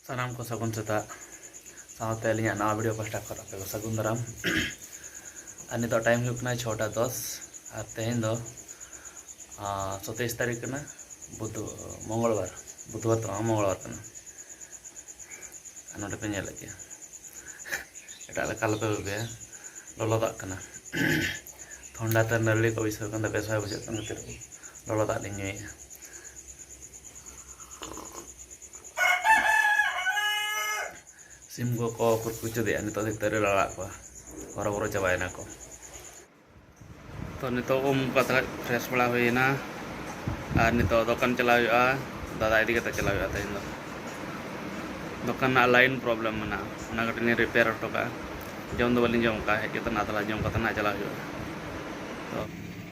ᱥᱟᱱᱟᱢ ᱠᱚ ᱥᱟᱹᱜᱩᱱ ᱥᱮᱛᱟᱜ ᱥᱟᱶᱛᱮ ᱟᱹᱞᱤᱧᱟᱜ ᱱᱟᱣᱟ ᱵᱷᱤᱰᱤᱭᱳ ᱯᱟᱥᱴᱟ ᱠᱷᱚᱱ ᱟᱯᱮ ᱠᱚ ᱥᱟᱹᱜᱩᱱ ᱫᱟᱨᱟᱢ ᱟᱨ ᱱᱤᱛᱚᱜ ᱴᱟᱭᱤᱢ ᱦᱩᱭᱩᱜ ᱠᱟᱱᱟ ᱪᱷᱚᱴᱟ ᱫᱚᱥ ᱟᱨ ᱛᱮᱦᱮᱧ ᱫᱚ ᱥᱚᱛᱮᱭᱤᱥ ᱛᱟᱹᱨᱤᱠᱷ ᱠᱟᱱᱟ ᱵᱩᱫᱷ ᱢᱚᱝᱜᱚᱞᱵᱟᱨ ᱵᱩᱫᱷᱵᱟᱨ ᱫᱚ ᱵᱟᱝ ᱢᱚᱝᱜᱚᱞᱵᱟᱨ ᱠᱟᱱᱟ ᱟᱨ ᱱᱚᱰᱮ ᱯᱮ ᱧᱮᱞᱮᱫ ᱜᱮᱭᱟ ᱮᱴᱟᱜ ᱞᱮᱠᱟ ᱟᱞᱚᱯᱮ ᱵᱷᱟᱵᱤᱭᱟ ᱞᱚᱞᱚ ᱫᱟᱜ ᱠᱟᱱᱟ ᱴᱷᱚᱱᱰᱟ ᱛᱮ ᱱᱟᱹᱨᱲᱤ ᱠᱚ ᱵᱟᱹᱭᱥᱟᱹᱣ ᱠᱟᱱ ᱛᱮ ᱵᱮᱥ ᱵᱟᱭ ᱵᱩᱡᱷᱟᱹᱜ ᱠᱟᱱ ᱠᱷᱟᱹᱛᱤᱨ ᱞᱚᱞᱚ ᱫᱟᱜ ᱞᱤᱧ ᱧᱩᱭᱮᱫᱼᱟ ᱥᱤᱢ ᱠᱚᱠᱚ ᱠᱩᱪᱩᱫᱮᱜᱼᱟ ᱱᱤᱛᱚᱜ ᱫᱚ ᱛᱟᱹᱨᱮ ᱞᱟᱲᱟᱜ ᱠᱚᱣᱟ ᱦᱚᱨᱚᱵᱚᱨᱚ ᱪᱟᱵᱟᱭᱮᱱᱟ ᱠᱚ ᱛᱚ ᱱᱤᱛᱚᱜ ᱩᱢ ᱠᱟᱛᱮ ᱯᱷᱨᱮᱥ ᱵᱟᱲᱟ ᱦᱩᱭᱮᱱᱟ ᱟᱨ ᱱᱤᱛᱚᱜ ᱫᱚᱠᱟᱱ ᱪᱟᱞᱟᱣ ᱦᱩᱭᱩᱜᱼᱟ ᱫᱟᱫᱟ ᱤᱫᱤ ᱠᱟᱛᱮ ᱪᱟᱞᱟᱣ ᱦᱩᱭᱩᱜᱼᱟ ᱛᱮᱦᱮᱧ ᱫᱚ ᱫᱚᱠᱟᱱ ᱨᱮᱱᱟᱜ ᱞᱟᱭᱤᱱ ᱯᱨᱚᱵᱞᱮᱢ ᱢᱮᱱᱟᱜᱼᱟ ᱚᱱᱟ ᱠᱟᱹᱴᱤᱡ ᱞᱤᱧ ᱨᱤᱯᱮᱭᱟᱨ ᱦᱚᱴᱚ ᱠᱟᱜᱼᱟ ᱡᱚᱢ ᱫᱚ ᱵᱟᱹᱞᱤᱧ ᱡᱚᱢ ᱠᱟᱜᱼᱟ ᱦᱮᱡ ᱠᱟᱛᱮ ᱱᱟᱫᱽᱞᱟ ᱡᱚᱢ ᱠᱟᱛᱮ ᱱᱟᱜ ᱪᱟᱞᱟᱣ ᱦᱩᱭᱩᱜᱼᱟ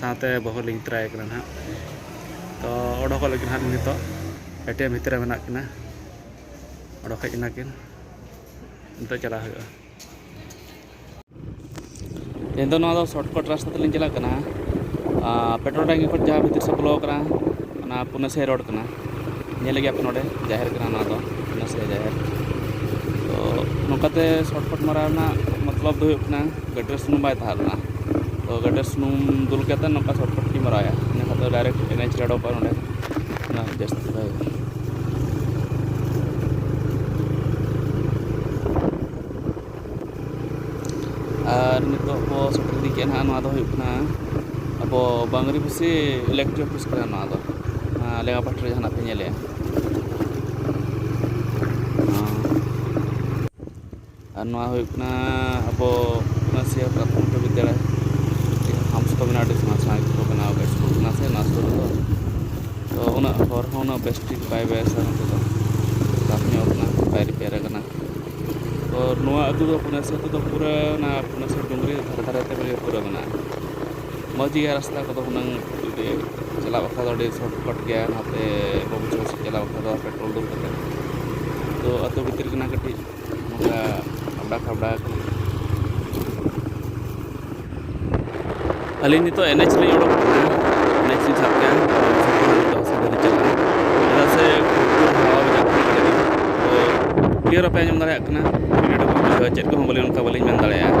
ᱥᱟᱶᱛᱮ ᱵᱟᱹᱦᱩ ᱞᱤᱧ ᱛᱚᱨᱟᱭᱮ ᱠᱟᱱᱟ ᱱᱟᱦᱟᱜ ᱛᱚ ᱚᱰᱚᱠᱚᱜ ᱞᱟᱹᱜᱤᱫ ᱱᱟᱦᱟᱜ ᱱᱤᱛᱚᱜ ᱮᱴᱤᱭᱮᱢ ᱵᱷᱤᱛᱨᱤ ᱨᱮ ᱢᱮᱱᱟᱜ ᱠᱤᱱᱟ ᱚᱰᱚᱠ ᱦᱮᱡ ᱮᱱᱟ ᱠᱤᱱ ᱱᱤᱛᱚᱜ ᱪᱟᱞᱟᱜ ᱦᱩᱭᱩᱜᱼᱟ ᱛᱮᱦᱮᱧ ᱫᱚ ᱱᱚᱣᱟ ᱫᱚ ᱥᱚᱨᱴᱠᱟᱴ ᱨᱟᱥᱛᱟ ᱛᱮᱞᱤᱧ ᱪᱟᱞᱟᱜ ᱠᱟᱱᱟ ᱯᱮᱴᱨᱳᱞ ᱴᱟᱝᱠᱤ ᱠᱷᱚᱱ ᱡᱟᱦᱟᱸ ᱵᱷᱤᱛᱤᱨ ᱥᱮᱫ ᱵᱚᱞᱚ ᱟᱠᱟᱱᱟ ᱚᱱᱟ ᱯᱩᱱᱟᱥᱤᱭᱟ ᱨᱳᱰ ᱠᱟᱱᱟ ᱧᱮᱞ ᱜᱮᱭᱟ ᱯᱮ ᱱᱚᱰᱮ ᱡᱟᱦᱮᱨ ᱠᱟᱱᱟ ᱱᱚᱣᱟ ᱫᱚ ᱯᱩᱱᱟᱥᱤᱭᱟ ᱡᱟᱦᱮᱨ ᱛᱚ ᱱᱚᱝᱠᱟᱛᱮ ᱥᱚᱨᱴᱠᱟᱴ ᱢᱟᱨᱟᱣ ᱨᱮᱱᱟᱜ ᱢᱚᱛᱞᱚᱵ ᱫᱚ ᱦᱩᱭᱩᱜ ᱠᱟᱱᱟ ᱜᱟᱹᱰᱤᱨᱮ ᱥᱩᱱᱩᱢ ᱵᱟᱭ ᱛᱟᱦᱮᱸ ᱞᱮᱱᱟ ᱛᱚ ᱜᱟᱹᱰᱤᱨᱮ ᱥᱩᱱᱩᱢ ᱫᱩᱞ ᱠᱟᱛᱮ ᱱᱚᱝᱠᱟ ᱥᱚᱨᱴᱠᱟᱴ ᱛᱮᱧ ᱢᱟᱨᱟᱣᱮᱫᱼᱟ ᱤᱱᱟᱹ ᱠᱷᱟᱱ ᱫᱚ ᱰᱟᱭᱨᱮᱠᱴ ᱮᱱ ᱮᱭᱤᱪ ᱨᱮ ᱚᱰᱚᱠᱚᱜᱼᱟ ᱱᱚᱸᱰᱮ ᱚᱱᱟ ᱡᱟᱹᱥᱛᱤ ᱫᱚ ᱟᱨ ᱱᱤᱛᱚᱜ ᱵᱚ ᱥᱮᱴᱮᱨ ᱤᱫᱤ ᱠᱮᱫᱼᱟ ᱱᱟᱦᱟᱜ ᱱᱚᱣᱟ ᱫᱚ ᱦᱩᱭᱩᱜ ᱠᱟᱱᱟ ᱟᱵᱚ ᱵᱟᱝᱨᱤ ᱵᱩᱥᱤ ᱤᱞᱮᱠᱴᱨᱤᱠ ᱚᱯᱷᱤᱥ ᱠᱟᱱᱟ ᱱᱚᱣᱟ ᱫᱚ ᱞᱮᱸᱜᱟ ᱯᱟᱦᱴᱟ ᱨᱮ ᱡᱟᱦᱟᱱᱟᱜ ᱯᱮ ᱧᱮᱞᱮᱫᱼᱟ ᱟᱨ ᱱᱚᱣᱟ ᱦᱩᱭᱩᱜ ᱠᱟᱱᱟ ᱟᱵᱚ ᱱᱟᱥᱮᱭᱟ ᱯᱨᱟᱛᱷᱚᱢᱤᱠ ᱵᱤᱫᱽᱫᱟᱹᱜᱟᱲ ᱦᱟᱢᱥ ᱠᱚ ᱢᱮᱱᱟᱜᱼᱟ ᱟᱹᱰᱤ ᱥᱮᱬᱟ ᱥᱮᱬᱟ ᱜᱮ ᱠᱚ ᱵᱮᱱᱟᱣ ᱠᱟᱜᱼᱟ ᱥᱠᱩᱞ ᱠᱟᱱᱟ ᱥᱮ ᱚᱱᱟ ᱥᱩᱨ ᱨᱮᱫᱚ ᱛᱚ ᱩᱱᱟᱹᱜ ᱦᱚᱨ ᱦᱚᱸ ᱩᱱᱟᱹᱜ ᱵᱮᱥ ᱴᱷᱤᱠ ᱵᱟᱭ ᱵᱮᱥᱟ ᱱᱚᱛᱮ ᱫᱚ ᱠᱷᱟᱨᱟᱯ ᱧᱚᱜ ᱠᱟᱱᱟ ᱵᱟᱭ ᱨᱤᱯᱮᱭᱟᱨ ᱠᱟᱱᱟ ᱛᱚ ᱱᱚᱣᱟ ᱟᱹᱛᱩ ᱫᱚ ᱯᱩᱱᱮᱥᱥᱚᱨ ᱟᱹᱛᱩ ᱫᱚ ᱯᱩᱨᱟᱹ ᱚᱱᱟ ᱯᱩᱱᱮᱥᱥᱚᱨ ᱰᱩᱝᱨᱤ ᱫᱷᱟᱨᱮ ᱫᱷᱟᱨᱮ ᱛᱮ ᱢᱟᱱᱮ ᱯᱩᱨᱟᱹ ᱢᱮᱱᱟᱜᱼᱟ ᱢᱚᱡᱽ ᱜᱮᱭᱟ ᱨᱟᱥᱛᱟ ᱠᱚᱫᱚ ᱦᱩᱱᱟᱹᱝ ᱡᱩᱫᱤ ᱪᱟᱞᱟᱜ ᱵᱟᱠᱷᱨᱟ ᱫᱚ ᱟᱹᱰᱤ ᱥᱚᱨᱴ ᱠᱟᱴ ᱜᱮᱭᱟ ᱱᱟᱛᱮ ᱵᱟᱹᱵᱩᱡᱷᱟᱹᱣ ᱥᱮᱫ ᱪᱟᱞᱟᱜ ᱵᱟᱠᱷᱨᱟ ᱫᱚ ᱯᱮᱴᱨᱳᱞ ᱫᱩᱞ ᱠᱟᱛᱮᱫ ᱛᱚ ᱟᱹᱛᱩ ᱵᱷᱤᱛᱤᱨ ᱠᱟᱱᱟ ᱠᱟᱹᱴᱤᱡ ᱱᱚᱝᱠᱟ ᱟᱵᱽᱲᱟ ᱠᱷᱟᱵᱽᱲᱟ ᱟᱠᱟᱱᱟ ᱟᱹᱞᱤᱧ ᱱᱤᱛᱚᱜ ᱮᱱᱮᱡ ᱞᱤᱧ ᱚᱰᱚᱠ ᱟᱠᱟᱱᱟ ᱮᱱᱮᱡ ᱞᱤᱧ ᱥᱟᱵ ᱠᱮᱫᱼᱟ ᱪᱮᱫᱟᱜ ᱥᱮ ᱠᱞᱤᱭᱟᱨ ᱵᱟᱯᱮ ᱟᱸᱡᱚᱢ ᱫᱟᱲᱮᱭᱟᱜ ᱠᱟᱱᱟ ᱪᱮᱫ ᱠᱚᱦᱚᱸ ᱵᱚᱞᱮ ᱚᱱᱠᱟ ᱵᱟᱹᱞᱤᱧ ᱢᱮᱱ ᱫᱟᱲᱮᱭᱟᱜᱼᱟ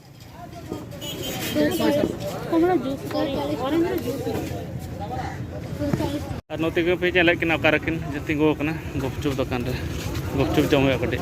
ᱟᱨ ᱱᱚᱛᱮ ᱜᱮ ᱯᱮ ᱧᱮᱞᱮᱫ ᱠᱤᱱᱟ ᱚᱠᱟ ᱨᱮᱠᱤᱱ ᱛᱤᱸᱜᱩ ᱟᱠᱟᱱᱟ ᱜᱩᱯᱪᱩᱯ ᱫᱚᱠᱟᱱ ᱨᱮ ᱜᱩᱯᱪᱩᱯ ᱡᱚᱢ ᱦᱩᱭᱩᱜᱼᱟ ᱠᱟᱹᱴᱤᱡ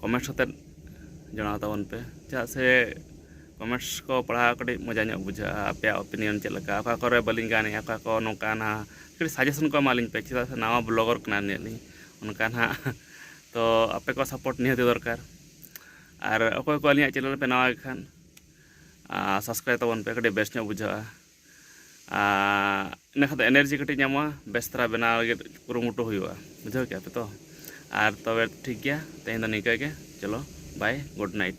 ᱠᱚᱢᱮᱱᱴᱥ ᱠᱟᱛᱮᱫ ᱡᱟᱱᱟᱣ ᱛᱟᱵᱚᱱ ᱯᱮ ᱪᱮᱫᱟᱜ ᱥᱮ ᱠᱚᱢᱮᱱᱴᱥ ᱠᱚ ᱯᱟᱲᱦᱟᱣ ᱠᱟᱹᱴᱤᱡ ᱢᱚᱡᱟ ᱧᱚᱜ ᱵᱩᱡᱷᱟᱹᱜᱼᱟ ᱟᱯᱮᱭᱟᱜ ᱚᱯᱤᱱᱤᱭᱚᱱ ᱪᱮᱫ ᱞᱮᱠᱟ ᱚᱠᱟ ᱠᱚᱨᱮ ᱵᱟᱹᱞᱤᱧ ᱜᱟᱱᱮᱜᱼᱟ ᱚᱠᱟ ᱠᱚ ᱱᱚᱝᱠᱟ ᱦᱟᱱᱟ ᱠᱟᱹᱴᱤᱡ ᱥᱟᱡᱮᱥᱚᱱ ᱠᱚ ᱮᱢᱟᱞᱤᱧ ᱯᱮ ᱪᱮᱫᱟᱜ ᱥᱮ ᱱᱟᱣᱟ ᱵᱞᱚᱜᱟᱨ ᱠᱟᱱᱟᱞᱤᱧ ᱟᱹᱞᱤᱧ ᱚᱱᱠᱟ ᱱᱟᱦᱟᱜ ᱛᱚ ᱟᱯᱮ ᱠᱚᱣᱟᱜ ᱥᱟᱯᱳᱨᱴ ᱱᱤᱦᱟᱹᱛᱤ ᱫᱚᱨᱠᱟᱨ ᱟᱨ ᱚᱠᱚᱭ ᱠᱚ ᱟᱹᱞᱤᱧᱟᱜ ᱪᱮᱱᱮᱞ ᱯᱮ ᱱᱟᱣᱟ ᱜᱮᱠᱷᱟᱱ ᱥᱟᱵᱥᱠᱨᱟᱭᱤᱵᱽ ᱛᱟᱵᱚᱱ ᱯᱮ ᱠᱟᱹᱴᱤᱡ ᱵᱮᱥ ᱧᱚᱜ ᱵᱩᱡᱷᱟᱹᱜᱼᱟ ᱤᱱᱟᱹ ᱠᱷᱟᱱ ᱫᱚ ᱮᱱᱟᱨᱡᱤ ᱠᱟᱹᱴᱤᱡ ᱧᱟᱢᱚᱜᱼᱟ ᱵᱮᱥ ᱫᱷᱟᱨᱟ ᱵᱮᱱᱟᱣ ᱞᱟᱹᱜᱤᱫ ᱠᱩᱨᱩᱢᱩᱴᱩ ᱦᱩᱭᱩᱜᱼᱟ ᱵᱩᱡᱷᱟᱹᱣ ᱠᱮᱜᱼᱟ ᱯᱮ ᱛᱚ ᱟᱨ ᱛᱚᱵᱮ ᱴᱷᱤᱠ ᱜᱮᱭᱟ ᱛᱮᱦᱮᱧ ᱫᱚ ᱱᱤᱝᱠᱟᱹ ᱜᱮ ᱪᱚᱞᱚ ᱵᱟᱭ ᱜᱩᱰ ᱱᱟᱭᱤᱴ